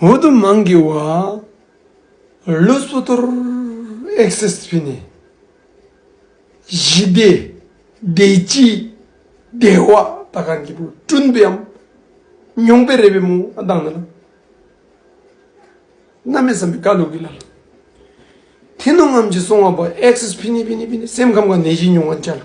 འོ་དོ་མང་གི་བ། ལོ་སོ་ཐོར་ཨེག་སེ་སི་བྷི་ནི། གཞི་བདེ། བདེ་སྐྱིད། བདེ་བ་ད་ག་གི་བུ་ཀྲུན་པའམ། ཉུང་པའི་རེད་པའི་མོ་ཨ་དང་ན་ལ། ན་མེད་བསམ་པའི་ཀ་ལུག་གི་ལ་ལ། དེ་ནོ་ངམ་གྱི་སོང་བ་བ་ཨེག་སེ་སི་བྷི་ནི་བྷི་ནི་བྷི་ནི་སེམས་ཁམས་ཀ་ནེ་གཞི་ཉུང་བ་འཇའ་ལུག།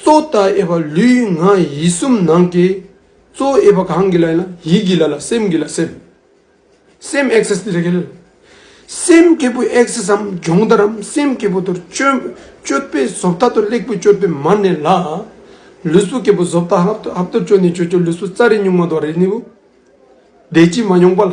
གཙོ་བཏགས་དབྱེ་བ་ལུས་ངག་ཡིད་གསུམ་ནང་གི་གཙོ་བོ་དབྱེ་བ་གང་གི་ལ་ཡིན་ལ་ཡིད་ཀྱི་ལ་ལ་སེམས་ཀྱི་ལ་སེམས། སེམས་ཨེག་སེས་ལས་གལ། སེམས་སྐྱེས་བུ་ཨེག་སེས་སམ་སྦྱོང་བརྡར་རམ་སེམས་སྐྱེས་བུ་དུར་སྤྱོད་པའི་བཟོ་བཏགས་དུར་གླེགས་བུ་སྤྱོད་པའི་མར་ནི་ལ། ལུས་སྲོག་སྐྱེས་བུ་བཟོ་བཏགས་ཧབ་དུར་སྤྱོད་ནི་ཆོས་སྤྱོད་ལུས་སྲོག་རྩ་རི་སྨྱུག་མ་དོ་རི་ནི་བུ། བདེ་སྐྱིད་མ་མྱོང་པ་ལ།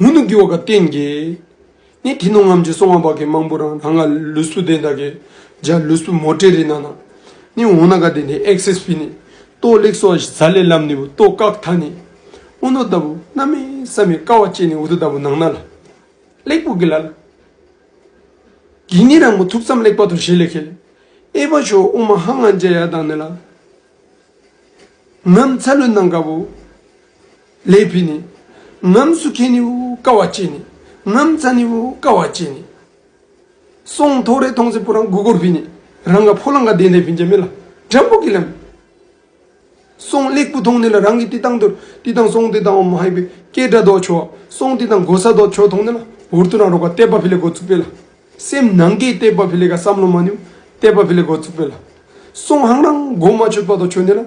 མུ་ནུ་གུ་བ་ག་བསྟན་གྱི། ནི་དེ་ནོ་ངམ་ཅི་སོང་བ་བ་གའི་མང་པོ་རང་ད་ང་ལུས་སུ་དེ་ད་གའི། འཇའ་ལུས་སུ་མོ་ཏྲེ་རི་ན་ན། ནི་འོང་ན་ག་དེ་དེ་ཨེག་སེས་པི་ནི། ཏོ་ལེགས་སོ་ཟ་ལེ་ལམ་ནི་བུ་ཏོ་ཀག་ཐ་ནི། ཨུ་ནོ་ད་བུ་ན་མེ་ས་མེ་ཀ་བ་ཅེ་ནི་ཨུ་ཏུ་ད་བུ་ནང་ན་ལ། ལེགས་པོ་གི་ལ་ལ། གིས་ནི་རང་བུ་ཐུགས་ཙམ་ལེགས་པ་དོ་ཞེས་ལེ་ཁེ་ལེ། ཨེ་བ་ཞོ་ཨུ་མ་ཧ་ང་འཇའ་ཡ་དང་ནི་ལ། ནམ་ཚ་ལུས་ནང་ག་བུ། ལས་བུད་ནི། ངམ་སུ་ཁེ་ནི་འུ་ཀ་བ་ཅེ་ནི། ངམ་ཚ་ནི་འུ་ཀ་བ་ཅེ་ནི། སོང་ཐོག་རེ་ཐོང་ཚེ་པུ་རང་དགུ་གོར་བུད་ནི། རང་ག་ཕོ་ལང་ག་དེ་འདེ་བུན་ཅེ་མི་ལ་དྲ་འབུ་གི་ལམ། སོང་གླེགས་བུ་ཐོང་ནི་ལ་རང་གི་ཏི་ཏང་དུར་ཏི་ཏང་སོང་ཏི་ཏང་འོ་མ་ཧེ་བི་ཀེ་སྒྲ་རྡོག་ཆོ་སོང་ཏི་ཏང་གོ་ས་རྡོག་ཆོ་ཐོང་ནི་ལ་འུར་ཏུ་རང་རོ་ག་ཏེ་པ་བྷི་ལེ་གོ་ཚུགས་པེ་ལ། སེམས་ནང་གེ་ཏེ་པ་བྷི་ལེ་ག་སམ་ལོ་མ་ནི་འུ་ཏེ་པ་བྷི་ལེ་གོ་ཚུགས་པེ་ལ། སོང་ཧང་རང་གོ་མ་ཆོད་པ་རྡོག་ཆོ་ནི་ལ།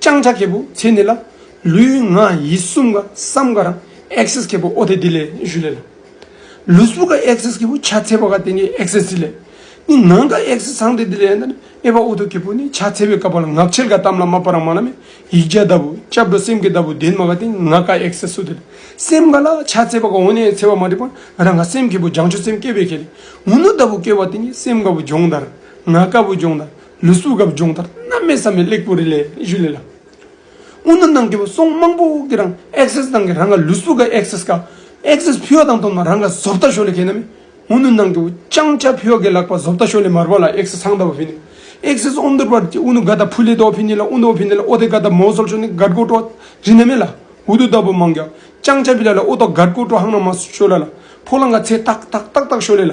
བརྐྱང་བྱ་གལ་པོ་ཚེ་འདི་ལ། ལུས་ངག་ཡིད་གསུམ་ཀ་བསམ་ག་རང། access གལ་པོ་ཨོ་དེ་འདི་ལས་བཞུ་ལེ་ལ། ལུས་པོ་ཀ access གལ་པོ་ཆ་ཚེ་བ་ཀ་དེ་ནི access འདི་ལས། ནི་ནང་ཀ access ཚངས་དེ་འདི་ལས་ནི་ཨེ་བ་ཨོ་དོ་གལ་པོ་ནི་ཆ་ཚེ་བའི་ཀ་བ་ལ་ངག་འཆལ་ཀ་གཏམ་ལ་མ་པ་རང་མ་ལ་མེ་ཡིག་བརྒྱ་ལྟ་བུ་སྐྱབས་འགྲོ་སེམས་ཀྱི་ལྟ་བུ་ལྡན་མ་ཀ་དེ་ངག་ཀ access ཨོ་དེ་ལས། སེམས་ཀ་ལ་ཆ་ཚེ་བ་ཀ་འོ་ནས་ཚེ་བ་མ་བསྒྲིབས་པར་རང་ཀ་སེམས་གལ་པོ་སྦྱང་ཆུ་སེམས་སྐྱེ་བའི་གལ། ངུ་ནུ་ལྟ་བུ་སྐྱེ་བ་དེ་ནི་སེམས་ཀ་བུ་སྦྱོང་དར། ངག་ཀ་བུ་སྦྱོང་དར། ལུས་སྲུབས་སྒབ་སྦྱོང་ལྟར་སྣ་མའི་ས་མི་གླེགས་བུ་རི་ལས་བཞུད་ལེ་ལ། སྔོ་ནུ་ནང་གི་སོང་དམངས་པོ་དབུགས་ཀྱི་རང Access དང་གི་རང་ག་ལུས་སྲུབས་ག Access ག Access ཕུལ་བ་དང་བསྟུན་ན་རང་ག་བཟོ་བལྟ་ཞོ་ལེ་གས་ན་མེ་སྔོ་ནུ་ནང་གི་བཅང་བྱ་ཕུལ་བ་གས་ལག་པ་བཟོ་བལྟ་ཞོ་ལེ་མར་བ་ལ Access ཚང་བལྟ་བ་ཕུལ་ནི Access ཨོ་འདུར་བར་གྱི་ཨུ་ནུ་ག་ད་ཕུ་ལེ་དོ་ཕུལ་ནི་ལ་ཨུ་འདོ་ཕུལ་ནི་ལ་ཨོ་དེ་ག་ད་མོ་བཟོ་ཞོ་ནི་གར་གོ་ཏྲོ་རི་ན་མེ་ལ་ཨུ་དུ་ད་བུ་མང་ག་བཅང་བྱ་བི་ལ་ལ་ཨུ་ཏོ་གར་གོ་ཏྲོ་ཧང་ན་མ་བཟོ་ཞོ་ལ་ལ་ཕོ་ལང་ག་ཚེ་ཏག་ཏག་ཏག་ཏག་ཞོ་ལེ་ལ་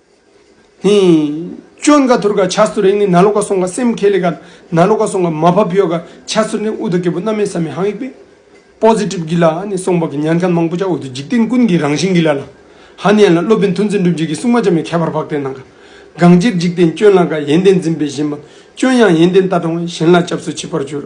ཧཱུྃ། ཅོན་ག་དུར་ག་བྱ་སུ་རེག་ནི་ན་ལོ་ག་སོང་ག་སེམས་ཁས་ལེ་ག། ན་ལོ་ག་སོང་ག་མ་བ་བྷྱོ་ག་བྱ་སུ་རེ་ནི་ཨུ་ད་གེ་པོ་རྣམ་སྨིན་ས་མི་ཧང་ཡིག་པས། Positive གི་ལ་ནི་སོང་བ་གི་ཉན་མཁན་མང་པོ་ཅག་འོད་དུ་འཇིག་རྟེན་ཀུན་གྱི་རང་བཞིན་གི་ལ་ལ། ཧཱ་ནི་ཡན་ལ་སློབ་དཔོན་ཐུན་ཚོད་འགྲུབ་འཇིག་གི་སྲུང་མ་ཅན་མའི་ཁྱད་པར་འཕགས་ཏེ་ན་ག། གང་ཅིར་འཇིག་རྟེན་ཅོན་ལ་ག་ཡན་ཏན་འཛིན་པས་བཞིན་པ། ཅོན་ཡང་ཡན་ཏན་ལྟ་སྟོང་བས་གཞན་ལ་སྐྱབས་སུ་མཆི་བར་གྱུར།